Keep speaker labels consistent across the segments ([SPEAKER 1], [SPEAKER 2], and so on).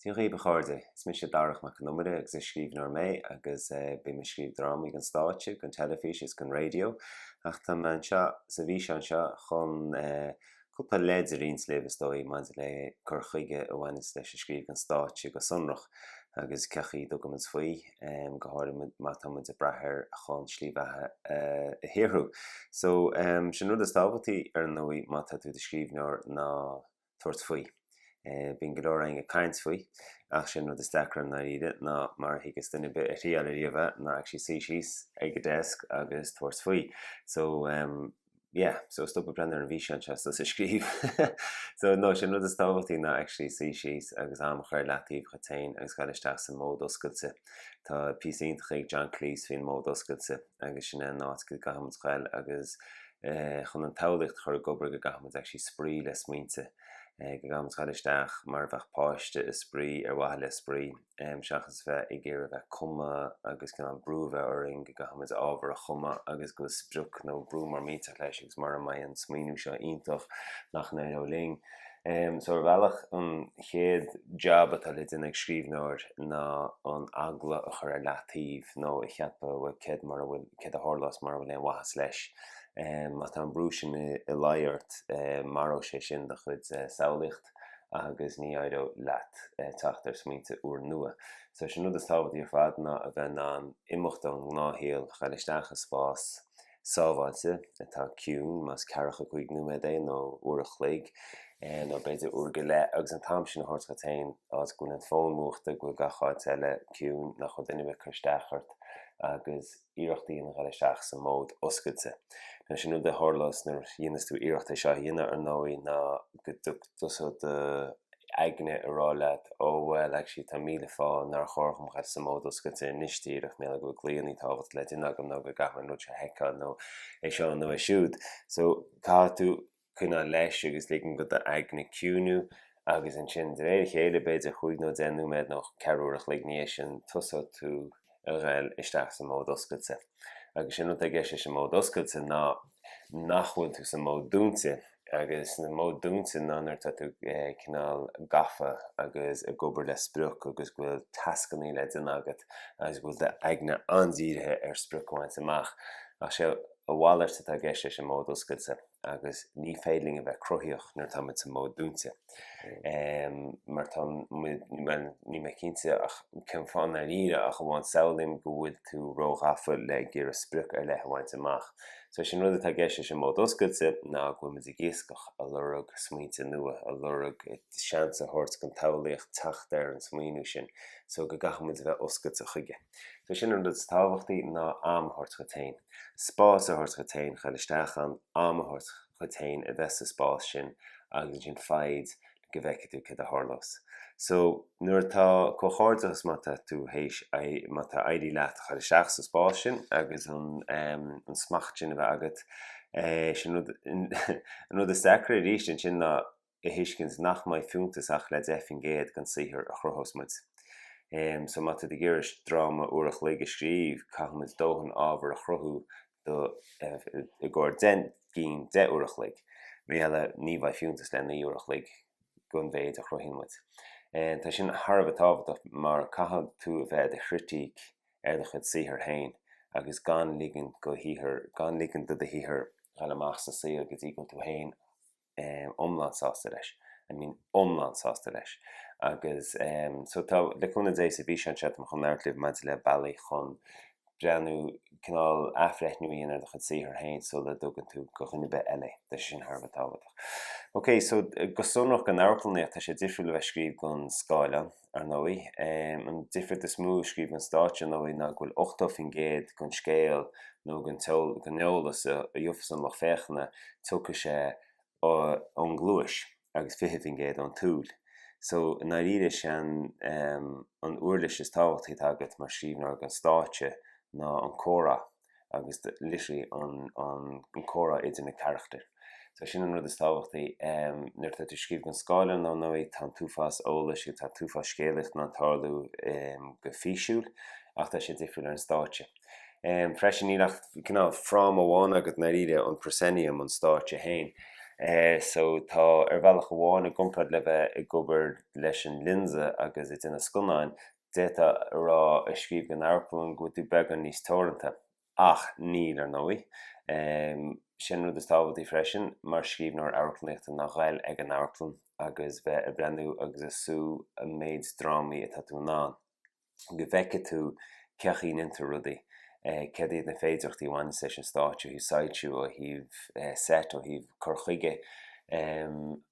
[SPEAKER 1] Dia dhaoib a chairde, is mise Darach Mac Con Iomaire agus is scríbhneoir mé agus bím ag scríobh drámaí don stáitse, don teilifís agus don raidió ach tá mé anseo sa bhfíseán seo chun cúpla leid a roinnt libh is dóigh maidir le cur chuige a bhaineanns leis an scríobh don stáitse go sonrach agus cén chaoi a dtugann muid faoi. go háirithe má tá muid ag brath air chun slí bheatha a shaothrú. So, sé an rud is tábhachtaí ar ndóigh má tá tú i do scríbhneoir ná tabhairt faoi. Bíonn go leor againn ag caint faoi ach sé an rud is deacra i ndáiríre ná mar a thuigeas duine ar bith a thriáil ariamh é ná actually suí síos ag an desk agus tabhairt faoi. So. yeah so stop ag breathnú ar an bhfíseán seo is tosaigh ag scríobh so no sé an rud is tábhachtaí ná actually suí síos agus am a chur ar leataobh dhuit féin agus a ghoil isteach sa mhód oscailte tá píosa iontach ag John Cleese faoin mhód oscailte agus sin é an áit go gcaithfimid a ghoil agus eh chun an tsamhlaíocht a chur ag obair go gcaithfimid actually spraoi le smaointe eh go gcaithfimid a ghoil isteach mar a bheadh páiste ag spraoi ar mhaithe le spraoi seachas bheith ag iarraidh bheith ag cumadh agus cineál brú a bheith orainn go gcaithfimid ábhar a chumadh agus go bhfuil sprioc nó brú mór millteach leis agus mura mbeidh an smaoiniú seo iontach nach n-éireoidh linn. So ar bhealach an chéad jab atá le déanamh ag scríbhneoir ná an eagla a chur ar leataobh nó a cheapadh bhuel céard mura bhfuil, céard a tharlós mura bhfuil aon mhaitheas leis. Má tá an brú sin i láthair ort maróidh sé sin do chuid samhlaíocht. agus ní éireoidh leat teacht ar smaointe úrnua. So sé an rud is tábhachtaí ar fad ná a bheith in ann imeacht ón ngnáthshaol, a dhul isteach i spás sábháilte atá ciúin, más ceathracha cúig nóiméad é nó uair a chloig nó b'fhéidir uair go leith, agus an t-am sin a thabhairt dhuit féin, áit go bhfuil an fón múchta, go bhfuil gach áit eile ciúin, nach bhfuil duine ag cur isteach ort agus. iarracht a dhéanamh a dhul isteach sa mhód oscailte. Now sé an rud a tharlós nuair a dhéanas tú iarracht é seo a dhéanamh ar ndóigh ná go dtosóidh do aigne ag rá leat ó bhuel actually tá míle fáth nár chóir dhom a dhul sa mhód oscailte anois díreach, mar gheall go bhfuil glaonna tábhachtacha le déanamh agam nó go gcaithfidh mé an rud seo a sheiceáil nó é seo nó é siúd. So caithfidh tú. coinneáil leis agus ligean do d'aigne ciúnú agus ansin de réir a chéile b'fhéidir chúig nó deich nóiméad nó ceathrú uair an chloig i ndiaidh sin tosóidh tú ag goil isteach sa mód oscailte agus séard atá i gceist leis an mód oscailte ná nach bhfuil tú sa mód dúnta agus an mód dúnta ná nuair atá tú cineál gafa agus ag obair le sprioc agus go bhfuil tascannaí le déanamh agat agus go bhfuil do aigne an-dírithe ar sprioc a bhaint amach ach sé a mhalairt atá i gceist leis an mód oscailte. agus ní féidir linn a bheith cruthaíoch nuair atá muid sa mód dúinte. Mar tá, níl mé cinnte ach cén fáth i ndáiríre ach amháin samhlaím go bhfuil tú róghafa le ag iarraidh sprioc ar leith a bhaint amach. So sin rud atá i gceist leis an mód oscailte ná go bhfuil muid ag iascach, ag lorg smaointe nua, ag lorg seans a thabhairt don tsamhlaíocht teacht ar an smaoineamh sin so go gcaithfidh muid a bheith oscailte chuige. So sin an rud is tábhachtaí ná am a thabhairt dhuit féin. Spás a thabhairt dhuit féin, a dhul isteach ann, am a thabhairt dhuit féin a bheith sa spás sin agus ansin faid go bhfeicfidh tú céard a tharlós. So, nuair atá comhghairdeachas má tá tú théis, má tá éirithe leat a dhul isteach sa spás sin agus an an smacht sin a bheith agat, so an rud is deacra arís ansin ná a thuiscint nach mbeidh fiúntas ach le 10% den saothar a chruthós muid. So má tá tú ag iarraidh dráma uair a chloig a scríobh caithfidh muid dóthain ábhar a chruthú do i gcomhair deich gcinn deich uair a chloig. Rith eile, ní bheidh fiúntas le naoi uair a chloig den mhéid a chruthaíonn muid. Tá sin thar a bheith tábhachtach mar caithfidh tú a bheith i do chritic ar do chuid saothar féin agus gan ligean do do shaothar a dhul amach sa saol go dtí go bhfuil tú féin iomlán sásta leis. I mean iomlán sásta leis. Agus so tá, le cúnamh Dé, sa bhfíseán seo táim chun labhairt libh maidir le bealaí chun breathnú, cineál athbhreithniú a dhéanamh ar do chuid saothar féin sula dtugann tú do dhuine ar bith eile é. Tá sé sin thar a bheith tábhachtach. Ok, so go sonrach, don amharclannaíocht, tá sé difriúil le bheith ag scríobh don scáileán. ar ndóigh. An difríocht is mó ag scríobh don stáitse, ar ndóigh, ná go bhfuil 80% den scéal nó den eolas a gheobhas an lucht féachana, tiocfaidh sé ón gcluais agus 20% ón tsúil. So, i ndáiríre, is é an uirlis is tábhachtaí atá agat mar scríbhneoir don stáitse ná an comhrá. agus literally an comhrá idir na carachtair. So sin an rud is tábhachtaí. Em nuair atá tú ag scríobh don scáileán ar ndóigh tá an t-uafás eolais agus tá an t-uafás scéalaíocht in ann tarlú em go físiúil ach tá sé difriúil ar an stáitse. Em freisin níl ach cineál fráma amháin agat i ndáiríre, an proscenium, an stáitse féin. Eh so tá ar bhealach amháin i gcomparáid le bheith ag obair leis an lionsa agus ag déanamh scannáin, D'fhéadfá a rá ag scríobh don amharclann go bhfuil tú beagán níos teoranta. Ach níl, ar ndóigh. Sé an rud is tábhachtaí freisin mar scríbhneoir amharclannaíochta ná dhul ag an amharclann agus bheith ag breathnú agus ag sú an méid drámaí atá tú in ann. Go bhfeice tú cén chaoi a ndéantar rudaí. céard iad na féidearthachtaí a bhaineanns leis an stáitse ó thaobh soilsiú, ó thaobh seit, ó thaobh cur chuige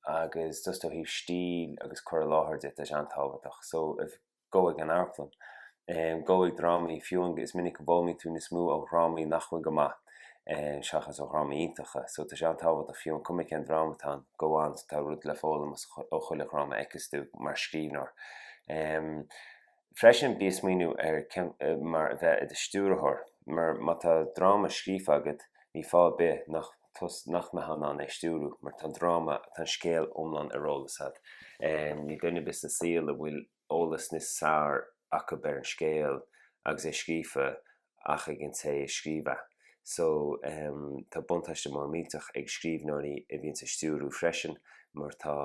[SPEAKER 1] agus just ó thaobh stíl agus cur i láthair de, tá sé an-tábhachtach. So, gabh ag an amharclann, gabh ag drámaí, fiú an, is minic go bhfoghlaimíonn tú níos mó ó dhrámaí nach bhfuil go maith seachas ó dhrámaí iontacha. So, tá sé an-tábhachtach fiú an cuma cén dráma atá ann, gabh ann, tá rud le foghlaim ó chuile dhráma a fheiceas tú mar scríbhneoir. Freisin, bí ag smaoineamh ar cén mar a bheith i do stiúrthóir, mar má tá dráma scríofa agat, níl fáth ar bith nach nach mbeifeá in ann é a stiúrú, mar tá an dráma, tá an scéal iomlán ar eolas agat. Níl duine ar bith sa saol a bhfuil eolas níos fearr acu ar an scéal agus é scríofa ach ag an té a scríobh é. So, tá buntáiste mór millteach ag scríbhneoirí a bhíonns ag stiúrú freisin mar tá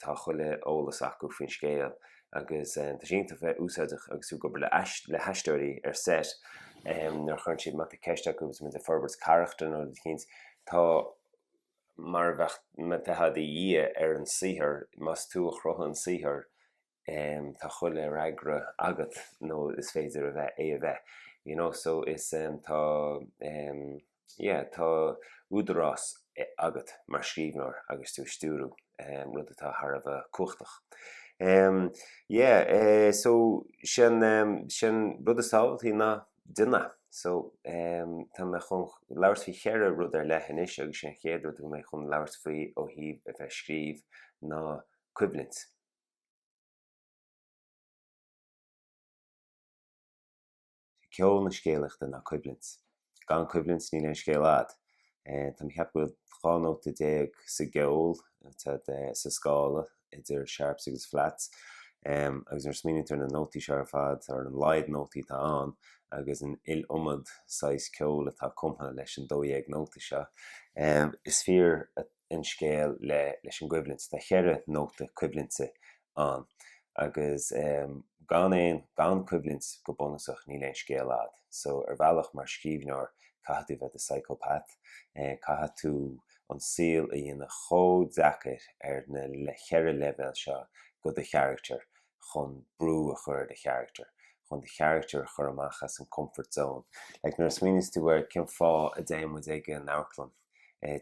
[SPEAKER 1] tá chuile eolas acu faoin scéal agus tá sé an-, thar a bheith úsáideach agus tú ag obair le haisteoirí ar set nuair a chuireann siad má tá ceist acu agus muid ag forbairt carachtair nó rud eicínt tá mar a bheadh, tá tú i do dhia ar an saothar más tú a chruthaigh an saothar tá chuile fhreagra agat nó is féidir a bheith, é a bheith you know so is tá yeah tá údarás agat mar scríbhneoir agus tú ag stiúrú rud atá thar a bheith cumhachtach yeah so sin sin an rud is tábhachtaí ná do dhéanamh so tá mé chun labhairt faoi cheithre rud ar leith anois agus is é an chéad rud a bhfuil mé chun labhairt faoi ó thaobh a bheith ag scríobh ná coimhlint. Ceol na scéalaíochta ná coimhlint. Gan coimhlint níl aon scéal a'ad. Tá mé ag ceapadh go bhfuil dhá nóta déag sa gceol, sa scála idir sharps agus flats. Agus nuair a smaoiníonn tú ar na nótaí seo ar fad, ar an laghad nótaí atá ann agus an iliomad saghas ceoil atá cumtha leis an dó dhéag nóta seo, is fíor an scéal le leis an gcoimhlint. Tá cheithre nóta coimhlinte ann agus gan aon gan coimhlint go bunúsach níl aon scéal a'ad. So ar bhealach mar scríbhneoir caithfidh tú a bheith i do psychopath. Caithfidh tú an saol a dhéanamh chomh deacair ar na le cheithre leibhéal seo do do charachtar chun brú a chur ar do charachtar. Chun do charachtar a chur amach as an comfort zone. Like nuair a smaoiníos tú ar cén fáth a dtéann muid ag an amharclann.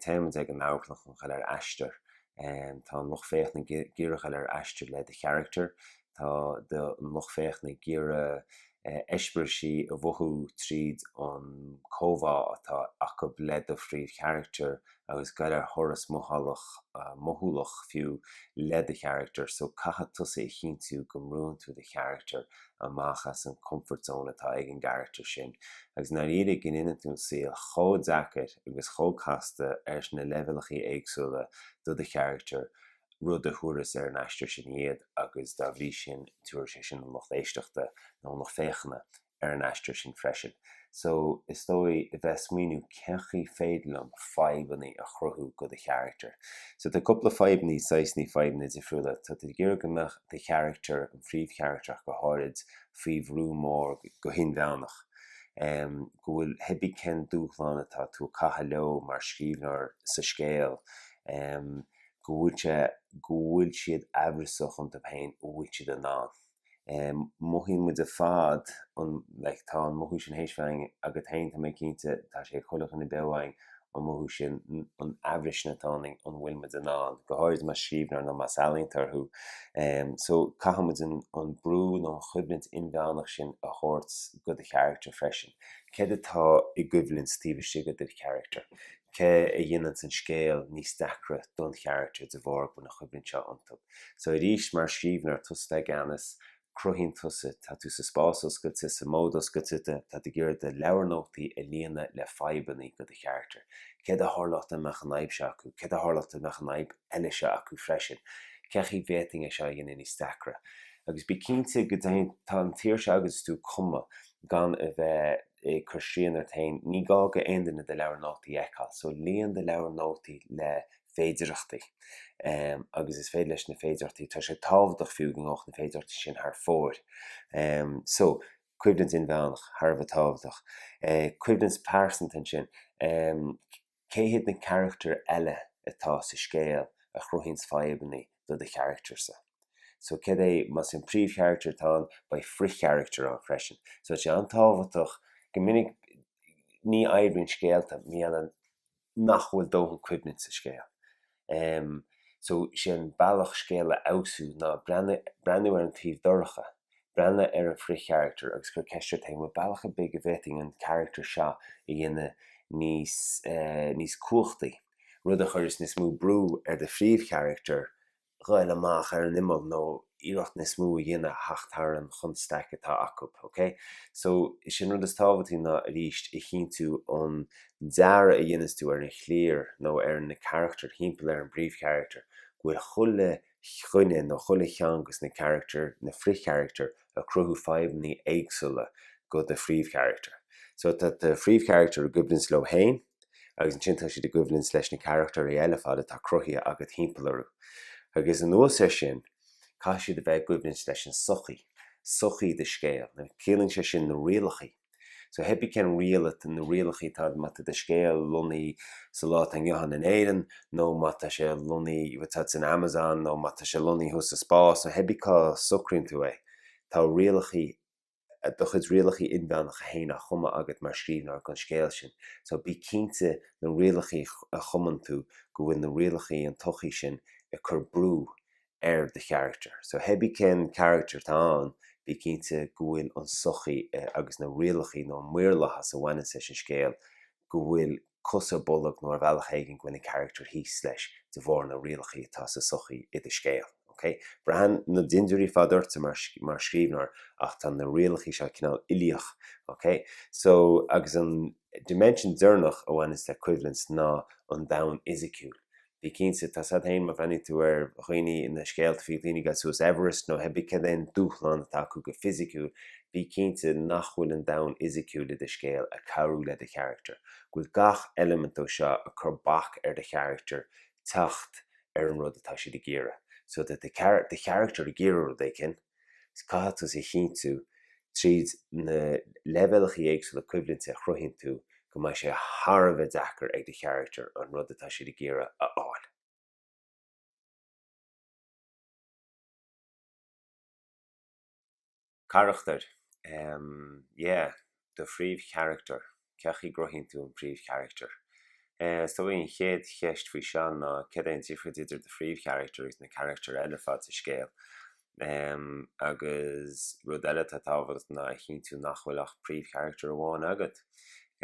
[SPEAKER 1] Téimid ag an amharclann chun a ghoil ar aistear. Tá an lucht féachana ag iarraidh a ghoil ar aistear le do charachtar. Tá do lucht féachana ag iarraidh eispéiris a mhothú tríd an gcomhbhá atá acu le do phríomhcharachtar agus a ghoil ar thuras mothálach, mothúlach fiú, le do charachtar. So caithfidh tusa a chinntiú go mbrúnn tú do charachtar amach as an comfort zone atá ag an gcarachtar sin agus i ndáiríre go ndéanann tú an saol chomh deacair agus chomh casta ar na leibhéalachaí éagsúla do do charachtar, rud a thabharfas ar an aistear sin iad agus dá bhrí sin tabharfaidh sé sin an lucht éisteachta nó an lucht féachana ar an aistear sin freisin. So is dóigh a bheith ag smaoiniú cén chaoi féidir liom fadhbannaí a chruthú go do charachtar. So tá cúpla fadhbannaí, saghsannaí fadhbannaí difriúla. Tá tú ag iarraidh go mbeadh do charachtar, an phríomhcharachtar ach go háirid, faoi bhrú mór, go hinmheánach. Em, go bhfuil hébí cén dúshlán atá tú ag caitheamh leo mar scríbhneoir sa scéal. Em, go bhfuil sé, go bhfuil siad aimhreasach iontu féin, an bhfuil siad in ann. mothaíonn muid ar fad an, like, tá an mothú sin théis bheith againn, agat féin, tá mé cinnte, tá sé ag chuile dhuine beo againn, an mothú sin, an aimhreas sin atá ionainn, an bhfuil muid in ann, go háirid más scríbhneoir nó más ealaíontóir thú, so caithfidh muid an, an brú nó an choimhlint inmheánach sin a thabhairt go do charachtar freisin. Céard atá i gcoimhlint taobh istigh de do charachtar? Céard a dhéananns an scéal níos deacra don charachtar de bharr go bhfuil an choimhlint seo iontu? So arís mar scríbhneoir tusa atá i gceannas, cruthaíonn tusa, tá tú sa spás oscailte, sa mód oscailte, tá tú ag iarraidh do leabhar nótaí a líonadh le fadhbannaí go do charachtar. Céard a tharlódh dá mbeadh an fhadhb seo acu, céard a tharlódh dá mbeadh an fhadhb eile seo acu freisin, cé chaoi bhféadfainn é seo a dhéanamh níos deacra? Agus bí cinnte go, tá an tsaoirse agat is tú ag cumadh gan a bheith ag cur srian ort féin, ní gá go aon duine do leabhar nótaí a fheiceáil, so líon do leabhar nótaí le féidearthachtaí agus is féidir leis na féidearthachtaí, tá sé tábhachtach fiú go ngabhfadh na féidearthachtaí sin thar fóir. So, coimhlint inmheánach thar a bheith tábhachtach. Coimhlint pearsanta ansin, cé hiad na carachtair eile atá sa scéal a chruthaíonns fadhbannaí do do charachtarsa? So cad é, más é an príomhcharachtar atá ann, beidh frithcharachtar ann freisin. So tá sé an-tábhachtach go minic, ní oibríonn scéalta, mar gheall nach bhfuil dóthain coimhlint sa scéal. So sé an bealach scéal a fheabhsú ná breathnú ar an taobh dorcha, breathnú ar an bhfrithcharachtar agus cur ceist ort féin, an bhfuil bealach ar bith go bhféadfainn an carachtar seo a dhéanamh níos cumhachtaí, rud a chuirfeas níos mó brú ar do phríomhcharachtar ghoil amach ar an imeall nó iarracht níos mó a dhéanamh a theacht thar an chonstaic atá acu, ok? So is é an rud is tábhachtaí ná arís a chinntiú an dearadh a dhéanas tú ar an chliar nó ar na carachtair thimpeall ar an bpríomhcharactar go bhfuil chuile dhuine nó chuile cheann go sna carachtair, na frithcharachtair ag cruthú fadhbannaí éagsúla go do phríomhcharachtar. So tá do phríomhcharachtar i gcoimhlint leo féin. agus ansin tá siad i gcoimhlint leis na carachtairí eile fad atá cruthaithe agat timpeall orthu. Agus anuas ar sin, caithfidh siad a bheith i gcoimhlint leis an sochaí, sochaí do scéil. Now, ciallaíonn sé sin na rialachaí. So hé bí cén riail atá, na rialachaí atá ann má tá do scéal lonnaithe sa lá atá inniu ann in Éireann nó má tá sé lonnaithe, má tá sé san Amazon nó má tá sé lonnaithe thuas sa spás, so hé bí cá socraíonn tú é. Tá rialachaí do chuid rialachaí inmheánacha féin á chumadh agat mar scríbhneoir don scéal sin. So bí cinnte na rialachaí a chumann tú go bhfuil na rialachaí an tsochaí sin ag cur brú ar do charachtar. So hé bí cén carachtar atá ann, bí cinnte go bhfuil an sochaí agus na rialachaí nó an maorlathas a bhaineann leis an scéal go bhfuil cos ar bolg nó ar bhealach éigin go bhfuil an carachtar thíos leis de bharr na rialachaí atá sa sochaí i do scéal. Ok? Braitheann na dintiúirí fad ortsa mar mar scríbhneoir ach tá na rialachaí seo cineál uilíoch. Ok? So, agus an dimension deireanach a bhaineanns le coimhlint ná an domhan fhisiciúil. Bí cinnte, tá siad féin má bhreathnaíonn tú ar dhaoine ina scéalta faoi dhaoine ag dul suas Everest nó hé bí cad é an dúshlán atá acu go fisiciúil, bí cinnte nach bhfuil an domhan fhisiciúil i do scéal ag cabhrú le do charachtar, go bhfuil gach eilimint dó seo ag cur bac ar do charachtar teacht ar an rud atá siad ag iarraidh. So tá do charachtar ag iarraidh rud éicint. agus caithfidh tú a chinntiú tríd na leibhéalacha éagsúla coimhlinte a chruthaíonn tú go mbeidh sé thar a bheith deacair ag do charachtar an rud atá siad ag iarraidh a fháil. Carachtair, yeah. do phríomhcharactar? Cén chaoi a gcruthaíonn tú an príomhcharachtar? Is dóigh an chéad cheist faoi seo ná cad é an difríocht idir do phríomhcharachtar agus na carachtair eile fad sa scéal? Agus rud eile atá tábhachtach ná a chinntiú nach bhfuil ach príomhcharachtar amháin agat.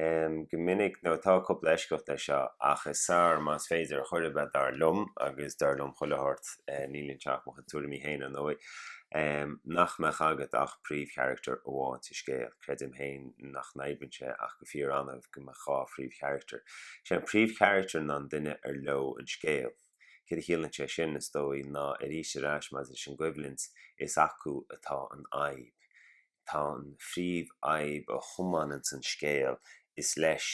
[SPEAKER 1] Go minic, now tá cúpla eisceacht le seo, ach is fearr más féidir, chóir a bheith dar liom, agus dar liom le chuile shórt, níl anseo ach mo chuid tuairimí féin ar ndóigh. nach mbeadh agat ach príomhcharachtar amháin sa scéal. Creidim féin nach n-oibríonn sé ach go fíor-annamh go mbeadh dhá phríomhcharachtar. Is é an príomhcharachtar ná an duine ar leo an scéal. Céard a chiallaíonn sé sin? Is dóigh ná arís ar ais maidir leis an gcoimhlint, is acu atá an fhadhb. Tá an phríomhfhadhb a thiomáineann an scéal, is leis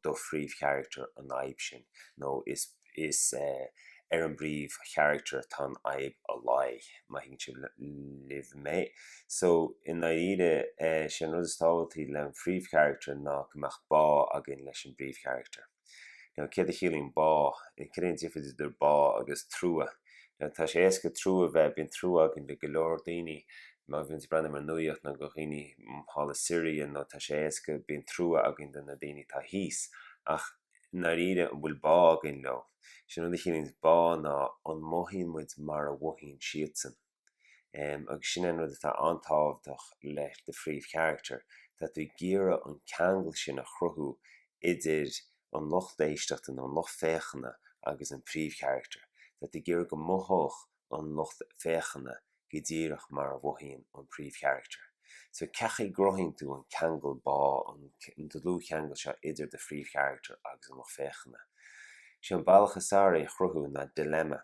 [SPEAKER 1] do phríomhcharachtar an fhadhb sin, nó is is ar an bpríomhcharachtar atá an fhadhb ag luí, má thuigeann sibh libh mé. So, i ndáiríre, sé an rud is tábhachtaí leis an phríomhcharachtar ná go mbeadh bá againn leis an bpríomhcharachtar. Now céard a chiallaíonn bá? Céard é an difríocht idir bá agus trua? Now tá sé éasca trua bheith, bíonn trua againn do go leor daoine má bhíonn tú ag breathnú ar an nuaíocht nó go dhaoine thall i Syria nó tá sé éasca bíonn trua againn do na daoine atá thíos ach i ndáiríre an bhfuil bá againn leo? Sin an rud a chiallaíonn bá ná an mothaíonn muid mar a mhothaíonn siadsan? agus sin an rud atá an-tábhachtach le do phríomhcharachtar. Tá tú ag iarraidh an ceangal sin a chruthú idir an lucht éisteachta nó an lucht féachana agus an príomhcharachtar. Tá tú ag iarraidh go mothódh an lucht féachana go díreach mar a mhothaíonn an príomhcharachtar. So cén chaoi a gcruthaíonn tú an ceangal bá, an dlúthcheangal seo idir do phríomhcharachtar agus an lucht féachana. Sé an bealach is fearr é a chruthú ná dilemma.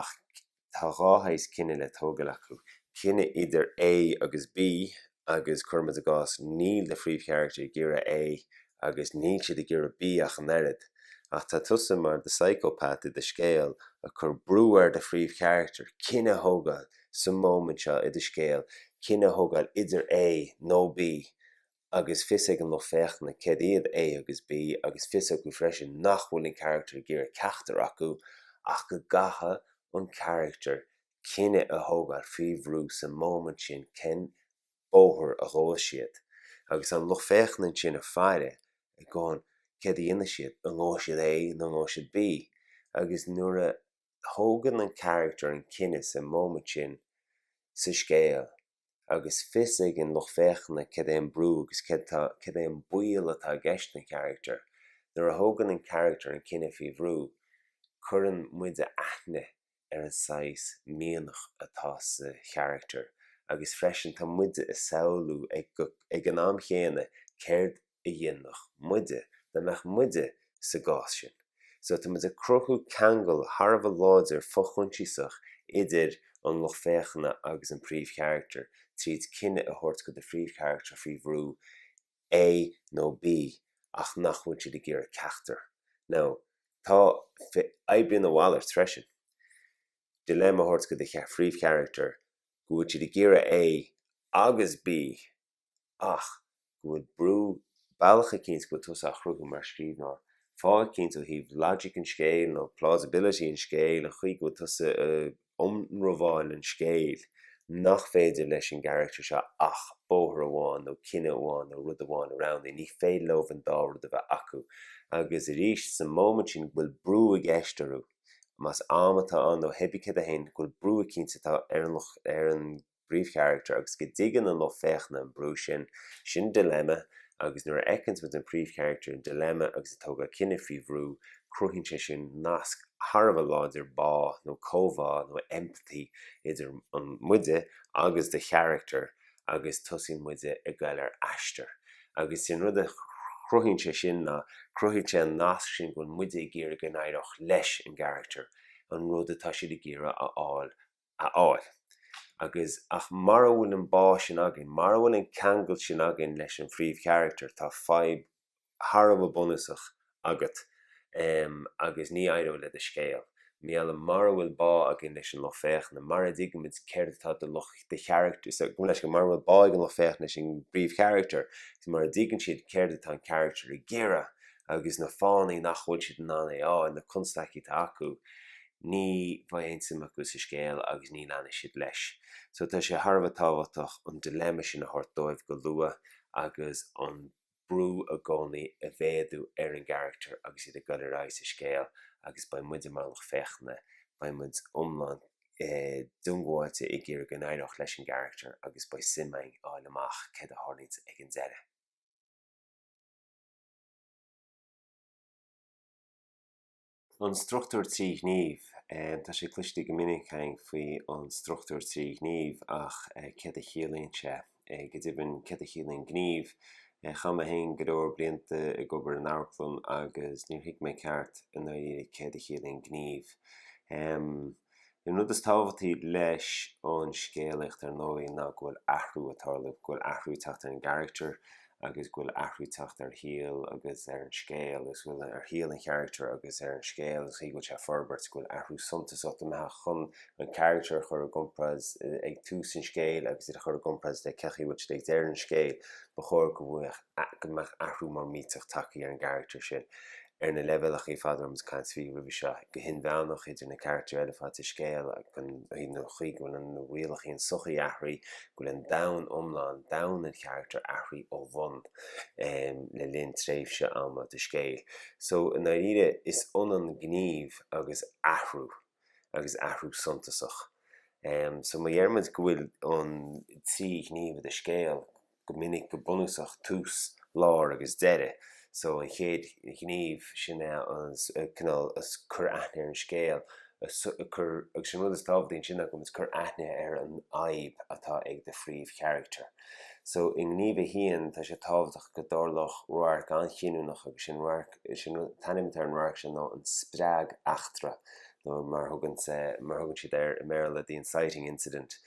[SPEAKER 1] ach tá dhá shaghas cinneadh le tógáil acu, cinneadh idir A agus B agus cuirimid i gcás níl do phríomhcharachtar ag iarraidh A agus níl siad ag iarraidh B ach an oiread, ach tá tusa mar the psychopath i do scéal ag cur brú ar do phríomhcharachtar, cinneadh a thógáil sa móimint seo i do scéal, cinneadh a thógáil idir A nó B agus fios ag an lucht féachana céard iad A agus B agus fios acu freisin nach bhfuil an carachtar ag iarraidh ceachtar acu ach go gcaithfidh an carachtar cinneadh a thógáil faoi bhrú sa móimint sin cén bóthar a ghabhfas siad agus tá an lucht féachana ansin ag faire ag gabháil céard a dhéanfaidh siad an ngabhfaidh siad A nó an ngabhfaidh siad B agus nuair a thógann an carachtar an cinneadh sa móimint sin sa scéal agus fios ag an lucht féachana céard é an brú agus céard tá, céard é an baol atá i gceist don character. Nuair a thógann an character an cinneadh faoi bhrú, cuireann muide aithne ar an saghas mianach atá sa character agus freisin tá muide ag samhlú ag an am céanna céard a a dhéanfadh muide dá mbeadh muide sa gcás sin. So tá muid ag cruthú ceangal thar a bheith láidir fo-choinsiasach idir an lucht féachana agus an príomhcharachtar tríd cinneadh a thabhairt go do phríomhcharachtar faoi bhrú A nó B ach nach bhfuil siad ag iarraidh ceachtar. Now, tá oibríonn a mhalairt freisin dilemma a thabhairt go do phríomhcharachtar go bhfuil siad ag iarraidh A agus B ach go bhfuil brú, bealach eicínt go bhfuil tusa a chruthú mar scríbhneoir, fáth eicínt ó thaobh logic an scéil nó plausibility an scéil, an chaoi go bhfuil tusa ag ionramháil an scéil nach féidir leis an gcarachtar seo ach bóthar amháin nó cinneadh amháin nó rud amháin a roghnú, ní féidir leobh an dá rud a bheith acu agus arís sa moment sin go bhfuil brú i gceist orthu, más am atá ann nó hé bith céard é féin, go bhfuil brú eicínt atá ar an, ar an. bpríomhcharachtar agus go dtuigeann an lucht féachana an brú sin, sin dilemma agus nuair a fheiceanns muid an príomhcharachtar i ndilemma agus ag tógáil cinneadh faoi bhrú, cruthaíonn sé sin nasc thar a bheith láidir, bá nó comhbhá nó empathy idir muide agus do charachtar agus tosaíonn muide ag goil ar aistear. Agus sin rud a chruthaíonn sé sin ná cruthaíonn sé an nasc sin go bhfuil muide ag iarraidh go n-éireodh leis an gcarachtar an rud atá siad ag iarraidh a fháil a fháil. Agus, ach mara bhfuil an bá sin againn, mara bhfuil an ceangal sin againn leis an phríomhcharactar, tá fadhb thar a bheith bunúsach agat agus ní éireoidh le do scéal. Mar gheall, mara bhfuil bá againn leis an lucht féachana, mara dtuigimid céard atá do lucht, do charactar, so, gabh mo leithscéal, mara bhfuil bá ag an lucht féachana leis an bpríomhcharactar is mura dtuigeann siad céard atá an caractar ag iarraidh agus na fáthanna nach bhfuil siad in ann é a fháil, na constaicí atá acu, ní bheidh aon suim acu sa scéal agus ní leanfaidh siad leis. So tá sé thar a bheith tábhachtach an dilemma sin a thabhairt dóibh go luath agus an brú i gcónaí a mhéadú ar an gcarachtar agus iad ag dul ar aghaidh sa scéal agus beidh muide mar lucht féachana, beidh muid iomlán diongbháilte ag iarraidh go n-éireodh leis an gcarachtar agus beidh suim againn a fháil amach céard a tharlaíonn ag an deireadh. An struchtúr trí ghníomh. Tá sé cloiste go minic caint faoi an struchtúr trí ghníomh ach céard a chiallaíonn sé? Go deimhin céard a chiallaíonn gníomh? Chaith mé féin go leor blianta ag obair san amharclann agus níor thuig mé i gceart i ndáiríre céard a chiallaíonn gníomh. An rud is tábhachtaí leis an scéalaíocht ar ndóigh ná go bhfuil athrú ag tarlú, go bhfuil athrú ag teacht ar an gcaractar agus go bhfuil athrú ag teacht ar shaol agus ar an scéal agus go bhfuil, ar shaol an charactair agus ar an scéal agus an chaoi go bhfuil sé ag forbairt, go bhfuil athrú suntasach i gceist má chuireann tú an caractar a chur i gcompráid ag tús an scéil agus iad a chur i gcompráid le cé chaoi go bhfuil siad ag deireadh an scéil. Ba chóir go mbeadh. ach go mbeadh athrú mór millteach tagtha ar an gcarachtar sin. Ar na leibhéalacha ar fad a raibh muid ag caint faoi roimhe seo, go hinmheánach, idir na carachtair eile ar fad sa scéal, agus an chaoi go bhfuil rialacha an tsochaí athraithe, go bhfuil an domhan iomlán, domhan an charachtair athraithe ó bhun le linn tréimhse ama do scéal. So i ndáiríre is ionann gníomh agus athrú agus athrú suntasach. So má deir muid go bhfuil trí ghníomh i do scéal, go minic go bunúsach tús, lár agus deireadh so an chéad ghníomh sin é an cineál cur aithne ar an scéal cur agus an rud is tábhachtaí ansin ar ndóigh is cur aithne ar an fhadhb atá ag do phríomhcharactar so i ngníomh a haon tá sé tábhachtach go dtarlódh radharc an-chinniúnach agus sin radharc sin an t-ainm atá ar an radharc sin ná an spreageachtra nó mar thugann mar thugann siad air i mBéarla, the inciting incident,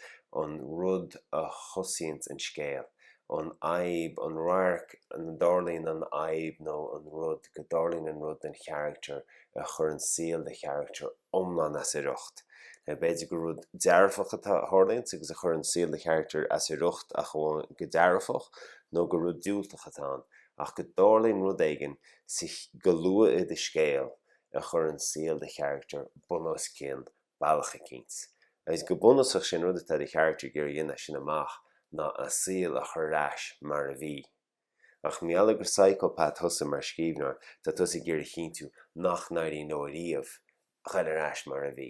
[SPEAKER 1] an rud a thosaíonns an scéal, an fhadhb, an radharc ina dtarlaíonn an fhadhb nó an rud, go dtarlaíonn an rud don charachtar a chuireann saol do charachtar iomlán as a riocht. B'fhéidir gur rud dearfach a tharlaíonns agus a chuireann saol do charachtar as a riocht ach amháin go dearfach nó gur rud diúltach atá ann ach go dtarlaíonn rud éigin go luath i do scéal a chuireann saol do charachtar bun os cionn bealach eicínt. Agus go bunúsach sé an rud atá do charachtar ag iarraidh a dhéanamh as sin amach ná a saol a chur ar ais mar a bhí. Ach mar gheall gur psychopath thusa mar scríbhneoir tá tusa ag iarraidh a chinntiú nach n-éiríonn leo ariamh a chur ar ais mar a bhí.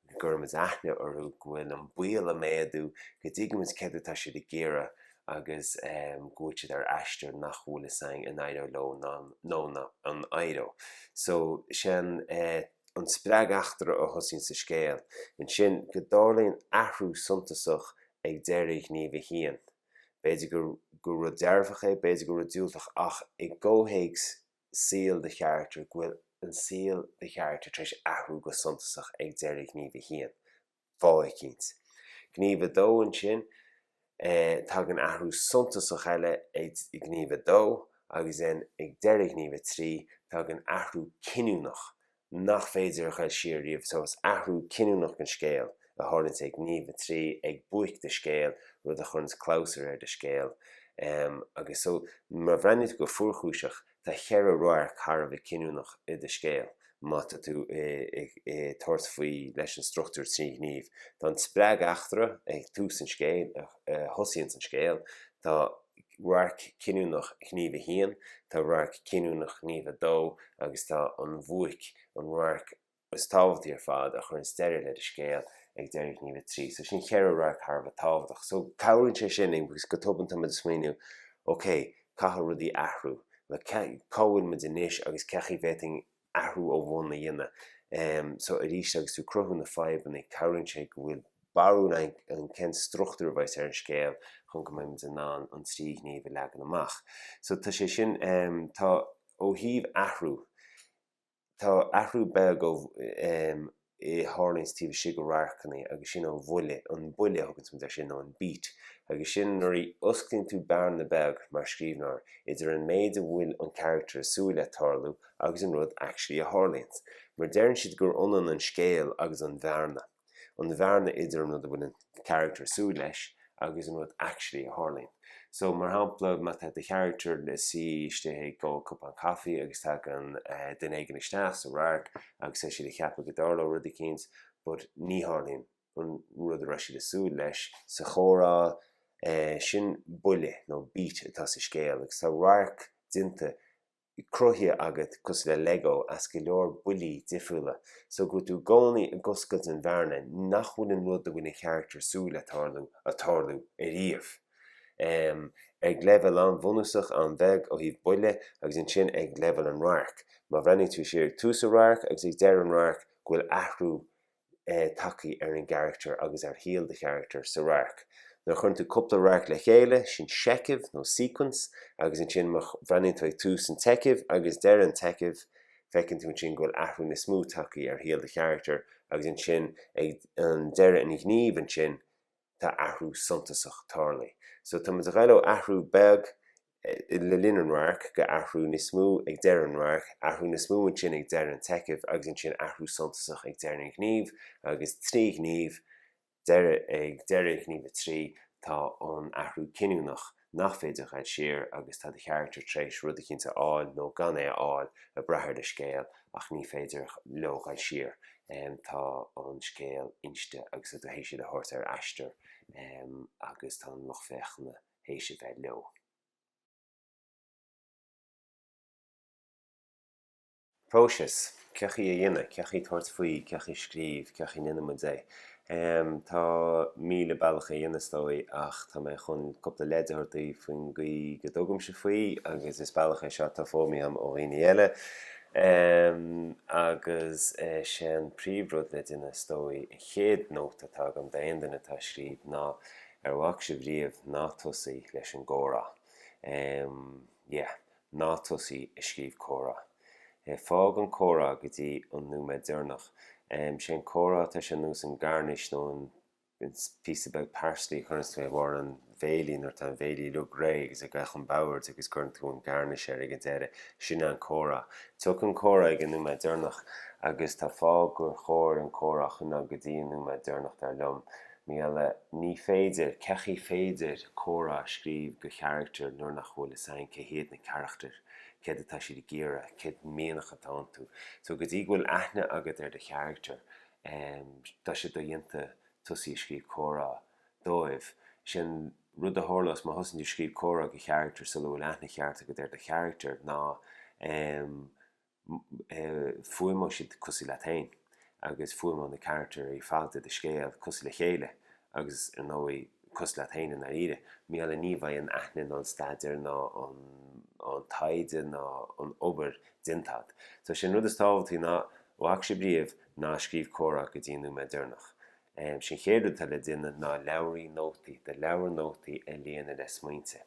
[SPEAKER 1] go gcuirimid aithne orthu, go bhfuil an baol ag méadú, go dtuigimid céard atá siad ag iarraidh agus go bhfuil siad ar aistear nach bhfuil a fhios againn an éireoidh leo nó an éireoidh. So sé an an spreageachtra a thosaíonns an scéal. Ansin go dtarlaíonn athrú suntasach ag deireadh Ghníomh a haon. B'fhéidir go gur rud dearfach é, b'fhéidir gur rud diúltach ach i gcomhthéacs saol do charachtar go bhfuil an saol do charachtar tar éis athrú go suntasach ag deireadh Ghníomh 1, fáth eicínt. Gníomh 2, ansin, tagann athrú suntasach eile ag Gníomh 2 agus then ag deireadh Ghníomh 3, tagann athrú cinniúnach nach féidir a chur siar riamh. So is athrú cinniúnach an scéil a tharlaíonns ag Gníomh 3, ag buaic do scéil, rud a chuireanns clabhsúr ar do scéal. Em, agus so má bhreathnaíonn tú go fuarchúiseach, tá cheithre radharc thar a bheith cinniúnach i do scéal má tá tú ag, ag, ag tabhairt faoi leis an struchtúr trí ghníomh. Tá an spreageachtra ag tús an scéil a thosaíonns an scéal, tá. radharc cinniúnach Ghníomh 1, tá radharc cinniúnach Ghníomh 2 agus tá an bhuaic, an radharc is tábhachtaí ar fad, a chuireanns deireadh le do scéal, ag deireadh Ghníomh 3. So sin cheithre radharc thar a bheith tábhachtach. So cabhraíonn sé sin linn because go tobann tá muid ag smaoineamh okay, caithfidh rudaí athrú, like cá bhfuil muid anois agus cé chaoi a bhféadfainn athrú ó bhonn a dhéanamh. So arís agus tú ag cruthú na fadhbanna, cabhraíonn sé go bhfuil barúil againn cén struchtúr a bheas ar an scéal chun go mbeimid in ann an trí ghníomh a leagan amach. So tá sé sin, tá ó thaobh athrú, tá athrú beag ó, a tharlaíonns taobh istigh de radharcanna agus sin an bhuille, an buille a thuganns muid ar sin nó an beat agus sin nuair a osclaíonns tú bearna beag mar scríbhneoir idir an méid a bhfuil an carachtar ag súil le tarlú agus an rud actually a tharlaíonns mar deireann siad gur ionann an scéal agus an bhearna, an bhearna idir an rud a bhfuil an. character ag súil leis agus an rud actually a tharlaíonn. So, mar shampla, má tá do character na suí istigh ag ól cupán coffee agus tagann duine éigin isteach sa radharc agus tá siad ag ceapadh go dtarlóidh rud eicínt but ní tharlaíonn an rud a raibh siad ag súil leis sa chomhrá, sin buille nó beat atá sa scéal agus tá radharc déanta cruthaithe agat cosúil le Lego as go leor buillí difriúla so go bhfuil tú i gcónaí ag oscailt an bhearna nach bhfuil an rud a bhfuil an character súil le tarlú ag tarlú ariamh. Em ag leibhéal an-bhunúsach, an-bheag ó thaobh buille agus ansin ag leibhéal an radhairc. Má bhreathnaíonn tú siar ag tús an radhairc agus ag deireadh an radhairc go bhfuil athrú tagthaí ar an gcarachtar agus ar shaol do charachtar sa radharc. Nuair a chuireann tú cúpla radharc le chéile, sin seicheamh nó sequence, agus ansin má bhreathnaíonn tú ag tús an tseichimh agus deireadh an tseichimh, feiceann tú ansin go bhfuil athrú níos mó tagthaí ar shaol do charachtar agus ansin ag an deireadh an gníomh ansin tá athrú suntasach tarlaithe. So tá muid a ghabháil ó athrú beag le linn an radhairc go athrú níos mó ag deireadh an radhairc, athrú níos mó ansin ag deireadh an tseichimh agus ansin athrú suntasach ag deireadh an ghnímh agus trí ghníomh, deireadh, ag deireadh ghníomh a trí tá an athrú cinniúnach. nach féidir a ghabháil siar agus tá do charachtar tréis rud eicínt a fháil nó gan é a fháil ag brath ar do scéal ach ní féidir leo a ghabháil siar tá an scéal inste agus tá tú théis iad a thabhairt ar aistear agus tá an lucht féachana théis a bheith leo. Próiseas, cé chaoi a dhéanamh, cé chaoi tabhairt faoi, cé chaoi scríobh, cé chaoi ndéanann muid é. Tá míle bealach é a dhéanamh is dóigh ach tá mé chun cúpla leid a thabhairt daoibh faoin gcaoi go dtugaimse faoi agus is bealach é seo atá foghlamtha agam ó dhaoine eile agus is é an príomhrud le déanamh is dóigh, an chéad nóta atá agam d'aon duine atá ag scríobh ná ar bhac sibh riamh, ná tosaigh leis an gcomhrá. Yeah. Ná tosaigh ag scríobh comhrá. Fág an comhrá go dtí an nóiméad deireanach. Sé an comhrá tá sé ar nós an garnish nó an píosa beag parsley a chuireanns tú ar bharr an bhéilí nuair atá an bhéilí uilig réidh agus ag an mbord agus cuireann tú an garnish air ag an deireadh. Sin é an comhrá. Tiocfaidh an comhrá ag an nóiméad deireanach agus tá fáth gur chóir an comhrá a choinneáil go dtí an nóiméad deireanach dar liom. Meala, Ní féidir, cé chaoi féidir comhrá a scríobh do charachtair nuair nach bhfuil fhios againn cé hiad na carachtair, céard atá siad ag iarraidh, céard mianach atá iontu. So go dtí go bhfuil aithne agat ar do charachtair, em, tá sé do-dhéanta tosaí ag scríobh comhrá dóibh. Sé an rud a tharlós má thosaíonn tú ag scríobh comhrá do charachtair sula bhfuil aithne cheart agat ar do charachtair ná, em, fuaimeoidh siad cosúil leat féin agus fuaimeoidh na carachtair ar fad de i do scéal cosúil le chéile agus ar ndóigh cosúil leat féin i ndáiríre. Mar gheall ní bheidh an aithne ná an staidéar ná an taighde ná an obair déanta agat. So is é an rud is tábhachtaí ná, ó thaobh scríobh, ná scríobh comhrá go dtí an nóiméad deireanach. Is é an chéad rud atá le déanamh ná leabhraí nótaí do leabhar nótaí a líonadh le smaointe.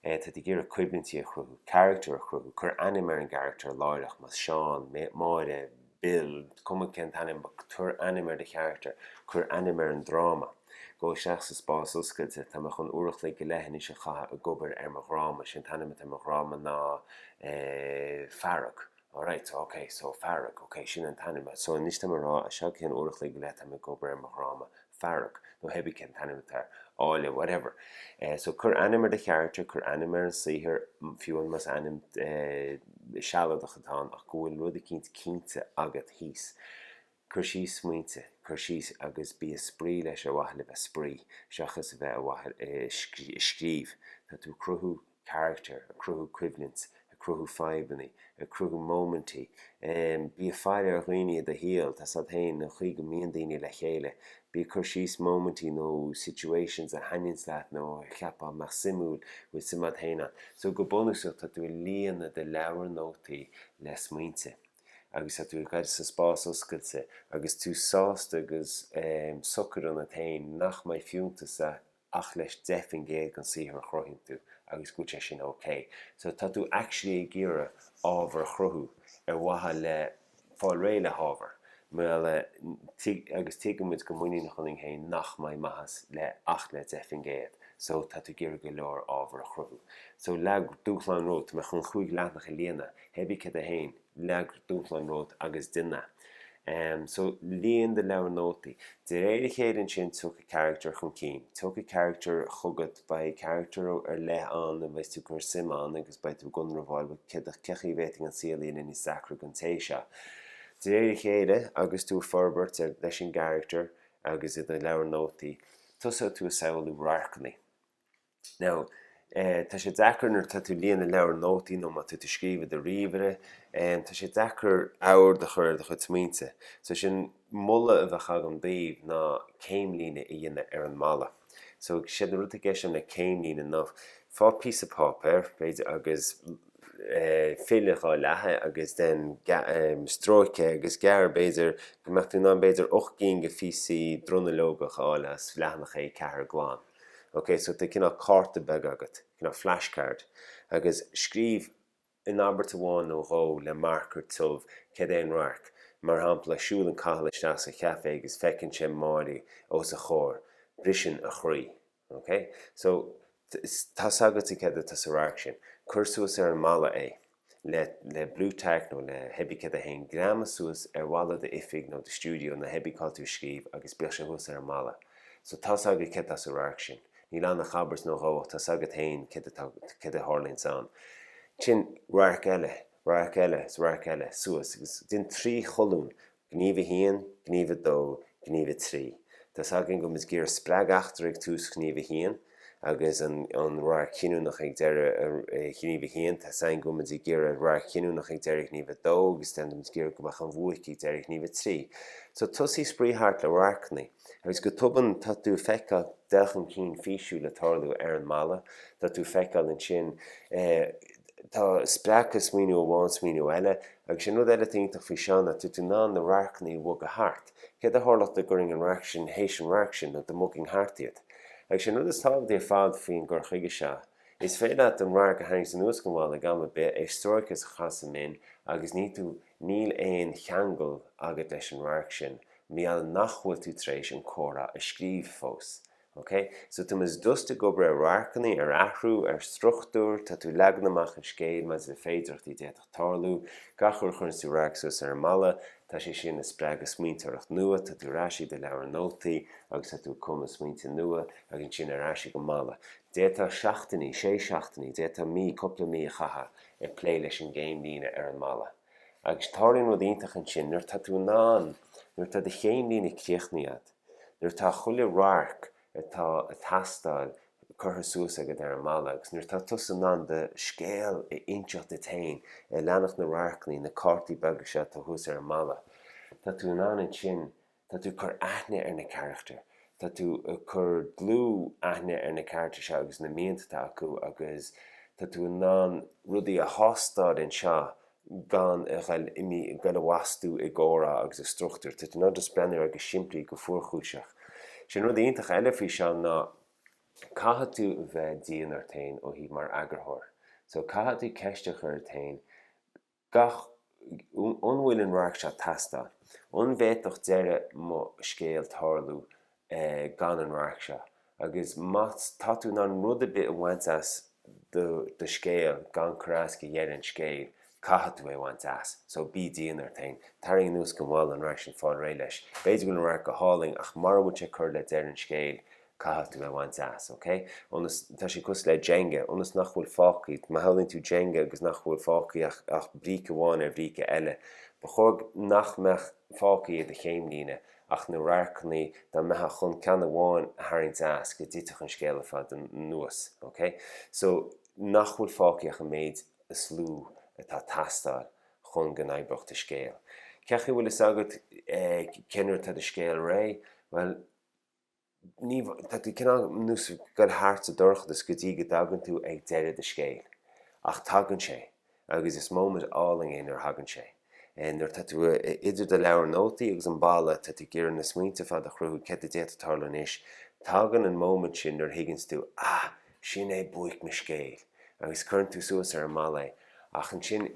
[SPEAKER 1] Tá tú ag iarraidh coimhlintí a chruthú, carachtair a chruthú, cuir ainm ar an gcarachtar láithreach, más Seán, Máire, Bill, cuma cén t-ainm, cuir ainm ar do charachtar, cuir ainm ar an dráma. Gabh isteach sa spás oscailte, tá mé chun uair a chloig go leith anois a chaitheamh ag obair ar mo dhráma, is é an t-ainm atá ar mo dhráma ná Fearg. Alright, ok, so fearg, ok, sin an t-ainm. So anois tá mé ag rá, as seo go ceann uair a chloig go leith tá mé ag obair ar mo dhráma? Fearg. Nó theibí cén t-ainm atá air. Áille, whatever. Eh, so cuir ainm ar do charachtar, cuir ainm ar an saothar, fiú amháin más ainm eh sealadach atá ann, ach go bhfuil rud eicínt cinnte agat thíos. Cuir síos smaointe cuir síos agus bí ag spraoi leis Ar mhaithe le bheith ag spraoi seachas a bheith ar mhaithe le scríobh. Tá tú ag cruthú carachtar, ag cruthú coimhlint, ag cruthú fadhbanna, ag cruthú móimintí. Bí ag faire ar dhaoine i do shaol, tá a fhios a'd féin an chaoi go mbíonn daoine le chéile. Bí ag cur síos móimintí nó situations a thaitníonns leat nó a cheapfá a bheadh suimiúil, bhfuil suim a'd féin ann. So go bunúsach tá tú ag líonadh do leabhar nótaí le smaointe. agus tú ag goil isteach sa spás oscailte agus tú sásta agus socair ionat féin nach mbeidh fiúntas ach le is 10 faoin gcéad den saothar a chruthaíonn tú agus go bhfuil sé sin ok. So tá tú actually ag iarraidh ábhar a chruthú ar mhaithe le fáil réidh le hábhar agus tuigeann muid go muiníneach ionainn féin nach mbeidh maitheas le ach le 10 faoin gcéad so tá tú ag iarraidh go leor ábhar a chruthú. So leag dúshlán romhat, tá mé chun chúig leathanach a líonadh, Hé bí céard é féin. Leag dúshlán romhat agus déan é. So, líon do leabhar nótaí. De réir a chéile ansin tiocfaidh carachtar chun cinn. Tiocfaidh carachtar chugat, beidh carachtar ar leith ann a bheidh tú ag cur suim ann agus beidh tú ag ionramháil, bhuel, cén, cén chaoi a bhféadfainn an saol a dhéanamh níos deacra don té seo? De réir a chéile agus tú ag forbairt leis an gcarachtar agus i do leabhar nótaí, tosóidh tú ag samhlú radharcanna. Now, eh, tá sé deacair nuair atá tú ag líonadh leabhar nótaí nó má tá tú ag scríobh i do ríomhaire, em, tá sé deacair ord a chur ar do chuid smaointe. So sin moladh a bheadh agam daoibh ná céimlíne a dhéanamh ar an mballa. So is é an rud atá i gceist leis an gcéimlíne ná faigh píosa páipéir, b'fhéidir, agus eh, fill ina dhá leath é agus then ga- em, stróic é agus gearr, b'fhéidir, go mbeadh tú in ann b'fhéidir ocht gcinn go phíosaí dronuilleogach a fháil as leathanach A4 glan. ok so tá cineál cárta beag agat, cineál flashcard agus scríobh in abairt amháin nó dhó le marker tiubh cad é an radharc, mar shampla siúlann Cathal isteach sa chaifé agus feiceann sé Máirí os a chomhair, briseann a chroí. ok so tá 's agatsa cad atá sa radharc sin, cuir suas ar an mballa é. le Blu-Tack nó le hé bí céard é féin, greamaigh suas ar bhalla d'oifig nó do stiúideo nó hé bí cá bhfuil tú ag scríobh agus bíodh sé thuas ar an mballa. So tá's agat cad tá sa radharc sin. Níl ann ach abairt nó dhó ach tá's agat féin cad atá, cad a tharlaíonns ann. Ansin, radharc eile, radharc eile is radharc eile, suas agus déan trí cholún Gníomh 1, Gníomh 2, Gníomh 3 Tá's againn go mba mhaith dúinn go dtarlódh an spreageachtra ag tús Ghníomh 1 agus an radharc cinniúnach ag deireadh Ghníomh 1. Tá's againn go mba mhaith dúinn an radharc cinniúnach ag deireadh Ghníomh 2 agus ba mhaith dúinn go mbeadh an bhuaic ag deireadh Ghníomh 3. So tosaigh spraoi thart le radharcanna agus go tobann tá tú ag feiceáil dul chun cinn físiúil ag tarlú ar an mballa. Tá tú ag feiceáil ansin tá, spreagann smaoineamh amháin smaoineamh eile Agus sin rud eile atá iontach faoi seo ná tá tú in ann na radharcanna a bhogadh thart. Céard a tharlódh dá gcuirfinn an radharc sin théis an radhairc sin nó dá mbogfainn thart iad? Agus sin an rud is tábhachtaí ar fad faoin gcur chuige seo. Is féidir leat an radharc a tharraingt anuas den bhalla ag am ar bith, é a stróiceadh is a chaitheamh sa mbin agus ní tú, níl aon cheangal agat leis an radharc sin mar gheall nach bhfuil tú tar éis an comhrá a scríobh fós. OK, so tá muid just ag obair ar radharcanna, ar athrú, ar struchtúr, tá tú leagan amach an scéil maidir le féidireachtaí a d'fhéadfadh tarlú, gach uair a chuireanns tú radharc suas ar an mballa, tá sé sin a spreagadh smaointeoireacht nua, tá tú ar ais i do leabhar nótaí agus tá tú ag cumadh smaointe nua agus ansin ar ais ag an mballa. D'fhéadfá seachtainí, sé seachtainí, d'fhéadfá mí, cúpla mí a chaitheamh ag plé leis an gcéim líne ar an mballa. Agus tarlaíonn rud iontach ansin, nuair atá tú in ann, nuair atá do chéim líne críochnaithe agat, Nuair atá chuile radharc atá ag teastáil curtha suas agat ar an mballa agus nuair atá tusa in ann do scéal a inseacht duit féin, ag leanacht na radharcanna, na cártaí beaga seo atá thuas ar an mballa, tá tú in ann ansin, tá tú ag cur aithne ar na carachtair, tá tú ag cur dlúth aithne ar na carachtair seo agus na mianta atá acu agus tá tú in ann rudaí a thástáil anseo gan a bheith ag dul i bhfastú i gcomhrá agus i struchtúr. Tá tú in ann just breathnú air go simplí, go fuarchúiseach. Sin rud iontach eile faoi seo ná caithfidh tú bheith dian ort féin ó thaobh mar eagarthóir. So caithfidh tú ceist a chur ort féin gach, an bhfuil an radharc seo ag teastáil? An bhféadfadh deireadh mo scéil tarlú eh gan an radharc seo agus má tá tú in ann rud ar bith a bhaint as do do scéal gan cur as do dheireadh an scéil caithfidh tú é a bhaint as so bí dian ort féin, tarraing anuas go mall an radharc sin fáil réidh leis, b'fhéidir go bhfuil an radharc go hálainn ach mura bhfuil sé ag cur le deireadh an scéil caithfidh tú é a bhaint as, ok? ionas, tá sé cosúil le Jenga, ionas nach bhfuil fágthaí, má shamhlaíonn tú Jenga agus nach bhfuil fágthaí ach ach bríce amháin ar bhríce eile, ba chóir nach mbeadh fágthaí i do chéimlíne ach na radharcanna dá mbeifeá chun ceann amháin a tharraingt as go dtitfeadh an scéal ar fad anuas, ok? So, nach bhfuil fágthaí ach an méid is lú atá teastáil chun go n-oibreodh do scéal. Cén chaoi a bhfuil fhios agat, eh, cén uair atá do scéal réidh? Bhuel, Ní, tá tú cineál ar nós ag goil thart sa dorchadas go dtí go dtagann tú ag deireadh do scéil. Ach tagann sé agus is móimint álainn é nuair a thagann sé. Nuair atá tú idir do leabhar nótaí agus an balla tá tú ag iarraidh na smaointe ar fad a chruthú céard a d'fhéadfadh tarlú anois. Tagann an móimint sin nuair a thuigeanns tú, ah, sin é buaic mo scéil. Agus cuireann tú suas ar an mballa é. Ach ansin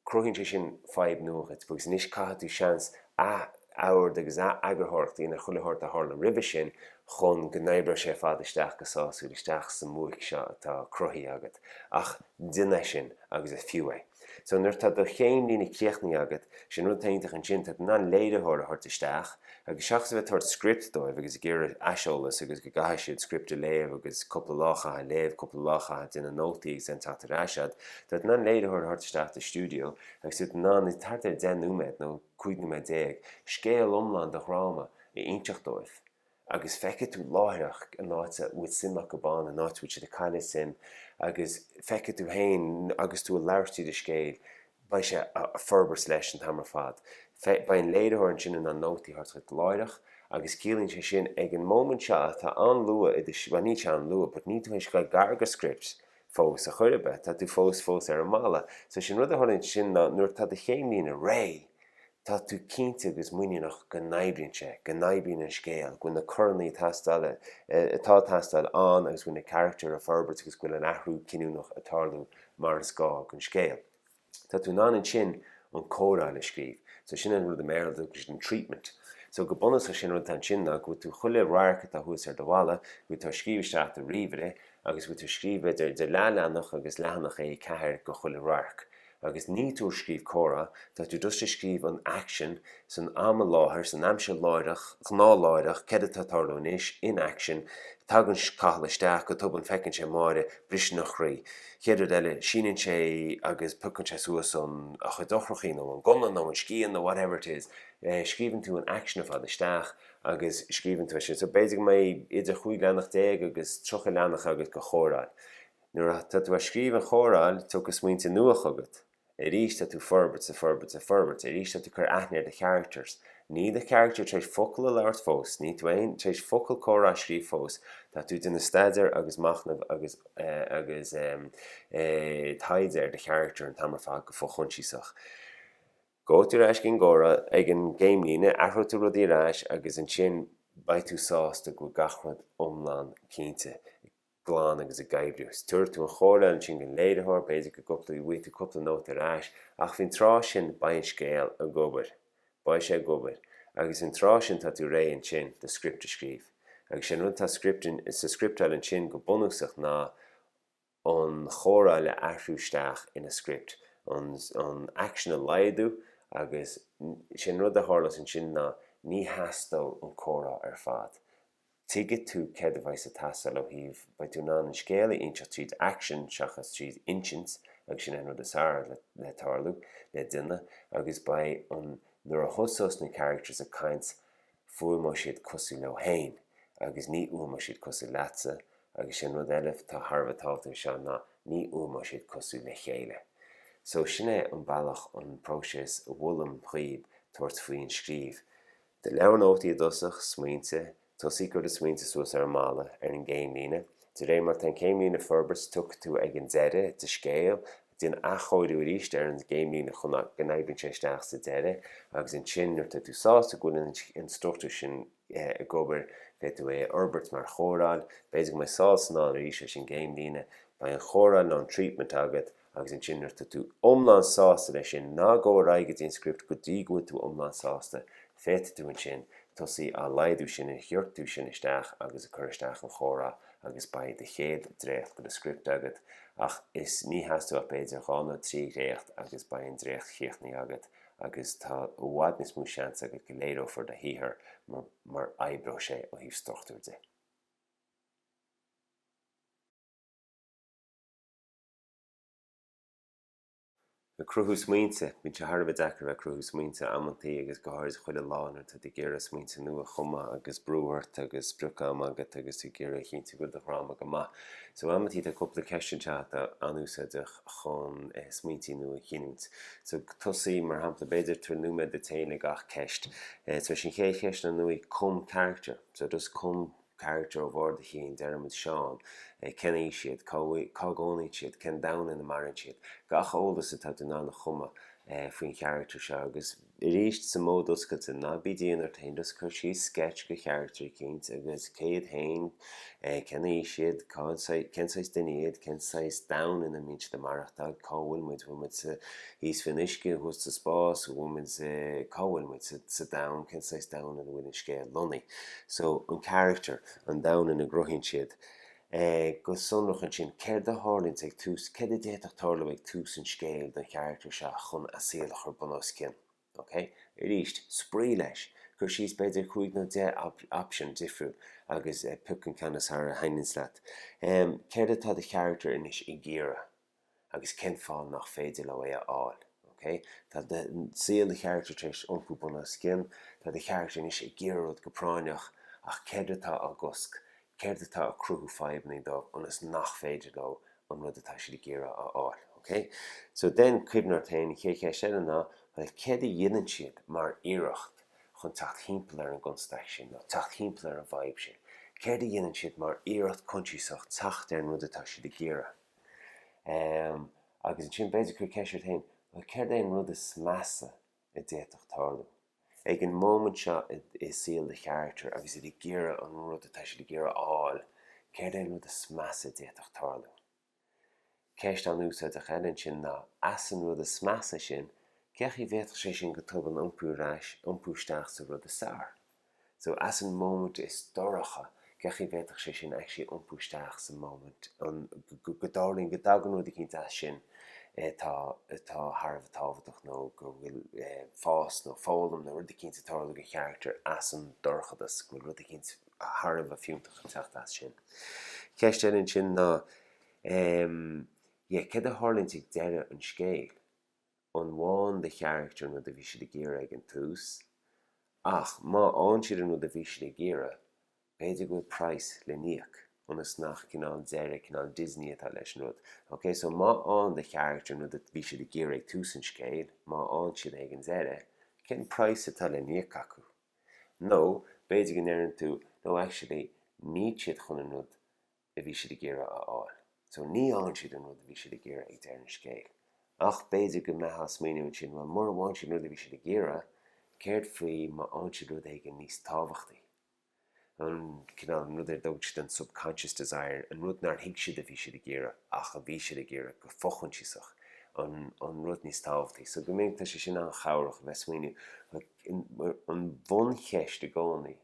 [SPEAKER 1] cruthaíonn sé sin fadhb nua dhuit agus anois caithfidh tú seans ath-ord agus ath-eagarthóireacht a dhéanamh ar chuile shórt a tharla roimhe sin chun go n-oibreodh sé ar fad isteach go sásúil isteach sa mbuaic seo atá cruthaithe agat ach déan é sin agus is fiú é. So nuair atá do chéim líne críochnaithe agat, sin rud atá iontach ansin, tá tú in ann léiritheoir a thabhairt isteach, Agus seachas a bheith ag tabhairt script dóibh agus ag iarraidh aiseolas agus go gcaithfidh siad script a léamh agus cúpla lá a chaitheamh ag léamh, cúpla lá a chaitheamh ag déanamh nótaí agus ansin teacht ar ais agat, tá tú in ann léiritheoir a thabhairt isteach i do stiúideo agus tú in ann, thart ar 10 nóiméad nó 15 nóiméad, scéal iomlán do dhráma a inseacht dóibh. Agus feicfidh tú láithreach an áit a bhfuil suim acu ann, an áit a bhfuil siad ag cailleadh suim agus feicfidh tú féin agus tú ag labhairt tríd an scéal, beidh sé á forbairt leis an t-am ar fad. Beidh an léiritheoir ansin in ann nótaí a thabhairt dhuit láithreach agus ciallaíonn sé sin ag an móimint seo atá an-luath i do, bhuel níl sé an-luath but níl tú tar éis a ghoil gar dho script fós ar chor ar bith, tá tú fós fós ar an mballa. So sin rud a tharlaíonn ansin ná nuair atá do chéimlíne réidh, Tá tú cinnte agus muiníneach go n-oibríonn sé, go n-oibríonn an scéal, go bhfuil na coranna atá ag teastáil ann agus go bhfuil na carachtair ag forbairt agus go bhfuil an athrú cinniúnach ag tarlú mar is gá don scéal. Tá tú in ann ansin an chóireáil a scríobh. So sin an rud i mBéarla a dtugtar an treatment. So go bunúsach sin an rud atá ansin ná go bhfuil tú chuile radharc atá thuas ar do bhalla, go bhfuil tú á scríobh isteach i do ríomhaire agus go bhfuil tú ag scríobh idir leathleathanach agus leathanach A4 dho chuile radharc. Agus níl tú ag scríobh comhrá, tá tú just ag scríobh an aicsean san am i láthair, san aimsir láithreach, ghnáthláithreach, céard atá ag tarlú anois, an aicsean. Tagann Cathal isteach, go tobann feiceann sé Máire, briseann a chroí. Chéad rud eile, síneann sé agus piocann sé suas an, a chuid eochrachaí nó an gunna nó an scian nó whatever it is. Scríobhann tú an aicsean ar fad isteach agus scríobhann tú é sin. So b'fhéidir go mbeidh idir chúig leathanach déag agus tríocha leathanach agat de chóireáil. Nuair atá tú ag scríobh an chóireáil tiocfaidh smaointe nua chugat. Arís tá tú ag forbairt is ag forbairt is ag forbairt. Arís tá tú ag cur aithne ar do characters. Níl do character tar éis focal a labhairt fós. Níl tú féin tar éis focal comhrá a scríobh fós. Tá tú ag déanamh staidéar agus machnamh agus agus em eh taighde ar do character an t-am ar fad go fochoinsiasach. Gabhfaidh tú ar ais ag an gcóireáil ag an gcéimlíne athróidh tú rudaí ar ais agus ansin beidh tú sásta go bhfuil gach rud iomlán cinnte. glan agus ag oibriú. Tabharfaidh tú an chóireáil ansin don léiritheoir, b'fhéidir go gcúpla, bhfaighidh tú cúpla nóta ar ais, ach faoin tráth sin beidh an scéal ag obair. Beidh sé ag obair. Agus an tráth sin tá tú réidh ansin do script a scríobh. Agus sé an rud atá sa scripteáil ansin go bunúsach ná an chóireáil a athrú isteach ina script, an aicsean a laghdú agus sé an rud a tharlós ansin ná ní theastóidh an comhrá ar fad. Tuigfidh tú céard a bheidh's ag teastáil ó thaobh, beidh tú in ann an scéal a inseacht tríd aicsean seachas tríd insint agus sin é an rud is fearr le le tarlú le duine agus beidh an nuair a thosós na characters ag caint fuaimeoidh siad cosúil leo féin agus ní fhuaimeoidh siad cosúil leatsa agus sin rud eile atá thar a bheith tábhachtach anseo ná ní fhuaimeoidh siad cosúil le chéile so sin é an bealach an próiseas a mholaim dhaoib tabhairt faoi an scríobh. Do leabhar nótaí i dtosach, Smaointe, tosaigh ag cur do smaointe suas ar an mballa, ar an gcéimlíne. De réir mar atá an céimlíne ag forbairt tiocfaidh tú ag an deireadh do scéal, déan athchóiriú arís ar an gcéimlíne chun go n-oibríonn sé isteach sa deireadh agus ansin nuair atá tú sásta go bhfuil an struchtúr sin ag obair féadfaidh tú é a fhorbairt mar chóireáil, b'fhéidir go mbeidh sall is anall arís leis an gcéimlíne, beidh an chóireáil nó an treatment agat. Agus ansin nuair atá tú iomlán sásta leis sin, ná gabh ar aghaidh go dtí an script go dtí go bhfuil tú iomlán sásta, féadfaidh tú ansin tosaí á laghdú sin a ghiortú sin isteach agus ag cur isteach an chomhrá agus beidh do chéad dréacht de do script agat ach is ní theastóidh ach b'fhéidir dhá nó trí dhréacht agus beidh an dréacht chríochnaithe agat agus tá i bhfad níos mó seans agat go léireofar do shaothar mar mar oibreoidh sé ó thaobh struchtúir de. Ag cruthú smaointe. Bíonn sé thar a bheith deacair a bheith ag cruthú smaointe amantaí agus go háirid chuile lá nuair atá tú ag iarraidh smaointe nua a chumadh agus brú ort agus sprioc ama agat agus tú ag iarraidh a chinntiú go bhfuil do dhráma go maith. So amantaí tá cúpla ceist anseo atá an-úsáideach chun smaointe nua a ghiniúint. So tosaigh, mar shampla, b'fhéidir tabhair nóiméad duit féin le gach ceist. So is é an chéad cheist ná, bhuel, cum carachtar. So just cum. Carachtar ó bharr do chinn, Diarmuid, Seán. Cén aois iad? Cá gcónaíonn siad? Cén domhan ina maireann siad? Gach eolas atá tú in ann a chumadh faoin charachtar seo agus, arís, sa mód oscailte, ná bí dian ort féin, just cuir síos sceits de charachtar eicínt agus cé iad féin, cén aois iad, cén saghas duine iad, cén saghas domhain ina mbíonn siad ag maireachtáil, cá bhfuil muid, bhfuil muid sa. Thíos faoin uisce, thuas sa spás, an bhfuil muid, cá bhfuil muid sa domhan, cén saghas domhan ina bhfuil an scéal lonnaithe. So, an carachtar, an domhan ina gcruthaíonn siad go sonrach ansin céard a tharlaíonns ag tús, céard a d'fhéadfadh tarlú ag tús an scéil don charachtar seo chun a saol a chur bunoscionn. Ok? Arís, spraoi leis. Cuir síos b'fhéidir cúig nó deich option difriúil agus pioc an ceann is fearr a thaitníonns leat. Céard atá do charachtar anois ag iarraidh? agus cén fáth nach féidir leo é a fháil. OK? Tá do, saol do charachtar tar éis iompú bun os cionn. Tá do charachtar anois ag iarraidh rud go práinneach ach céard atá á gcosc? Céard atá ag cruthú fadhbannaí dóibh ionas nach féidir leo an rud atá siad ag iarraidh a fháil? OK? So then cuimhnigh ort féin, an chéad cheist eile ná bhuel céard a dhéanann siad mar iarracht chun teacht thimpeall ar an gconstaic sin nó teacht thimpeall ar an bhfadhb sin? Céard a dhéanann siad mar iarracht coinsiasach teacht ar an rud atá siad ag iarraidh? Agus ansin b'fhéidir cuir ceist ort féin, bhuel céard é an rud is measa a d'fhéadfadh tarlú? Ag an móimint seo i saol do charachtar agus iad ag iarraidh an rud atá siad ag iarraidh a fháil, céard é an rud is measa a d'fhéadfadh tarlú? Ceist an-úsáideach eile ansin ná, as an rud is measa sin, cén chaoi a bhféadfadh sé sin go tobann iompú isteach sa rud is fearr? So as an móimint is dorcha, cén chaoi a bhféadfadh sé sin actually iompú isteach sa móimint an go dtarlaíonn, go dtagann rud eicínt as sin atá atá thar a bheith tábhachtach nó go bhfuil fás nó foghlaim nó rud eicínt ag tarlú do charachtar as an dorchadas, go bhfuil rud eicínt thar a bheith fiúntach ag teacht as sin. Ceist eile ansin ná, yeah, céard a tharlaíonns ag deireadh an scéil? an bhfaigheann do charachtar an rud a bhí siad ag iarraidh ag an tús ach má fhaigheann siad an rud a bhí siad ag iarraidh, b'fhéidir go bhfuil price le n-íoc, ionas nach cineál deireadh cineál Disney atá leis an rud. Ok, so má fhaigheann do charachtar an rud a bhí siad ag iarraidh ag tús an scéil, má fhaigheann siad é ag an deireadh, cén price atá le n-íoc acu? Nó, b'fhéidir go ndeireann tú, no actually, níl siad chun an rud, a bhí siad ag iarraidh a fháil. So ní fhaigheann siad an rud a bhí siad ag iarraidh ag deireadh an scéil. Ach b'fhéidir go mbeitheá a' smaoineamh ansin, bhuel mura bhfaigheann siad an rud a bhí siad ag iarraidh, céard faoi má fhaigheann siad rud éigin níos tábhachtaí? An cineál, an rud ar a dtugann siad an subconscious desire, an rud nár thuig siad a bhí siad ag iarraidh ach a bhí siad ag iarraidh go fo-choinsiasach, an, an rud níos tábhachtaí. So go minic tá sé sin an-chabhrach a bheith a' smaoineamh, like, an bhuncheist i gcónaí,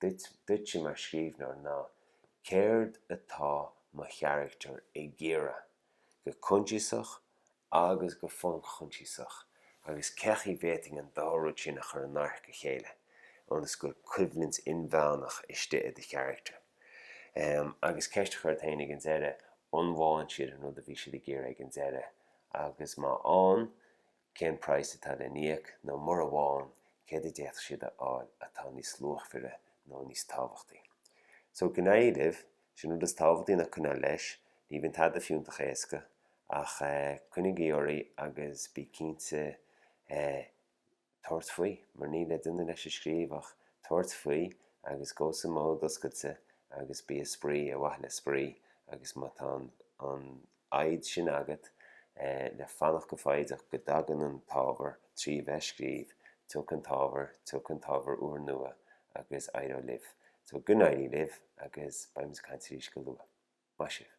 [SPEAKER 1] Duit, duitse mar scríbhneoir ná céard atá mo character ag iarraidh, go coinsiasach agus go fo-choinsiasach, agus cén chaoi a bhféadfainn an dá rud sin a chur in adharca a chéile ionas go bhfuil coimhlint inmheánach istigh i do character? Em, agus ceist a chur ort féin ag an deireadh, an bhfaigheann siad an rud a bhí siad ag iarraidh ag an deireadh? Agus má fhaigheann, Cén price atá le híoc, nó mura bhfaigheann, céard a d'fhéadfadh siad a fháil atá níos luachmhaire nó níos tábhachtaí? So, go n-éirí libh, 's an rud is tábhachtaí ná coinneáil leis, ní bhíonn tada fiúntach éasca, ach eh coinnigí oraibh agus bí cinnte eh tabhairt faoi, mar níl éinne le é a scríobh ach tabhairt faoi agus go sa mód oscailte agus bíodh spraoi, ar mhaithe le spraoi agus má tá an, an, fhoighid sin agat le fanacht go foighdeach go dtagann an t-ábhar trí bheith scríobh, tiocfaidh an t-ábhar, tiocfaidh an t-ábhar úr nua agus éireoidh libh. So, go n-éirí libh agus beimid ag caint arís go luath. Maith sibh!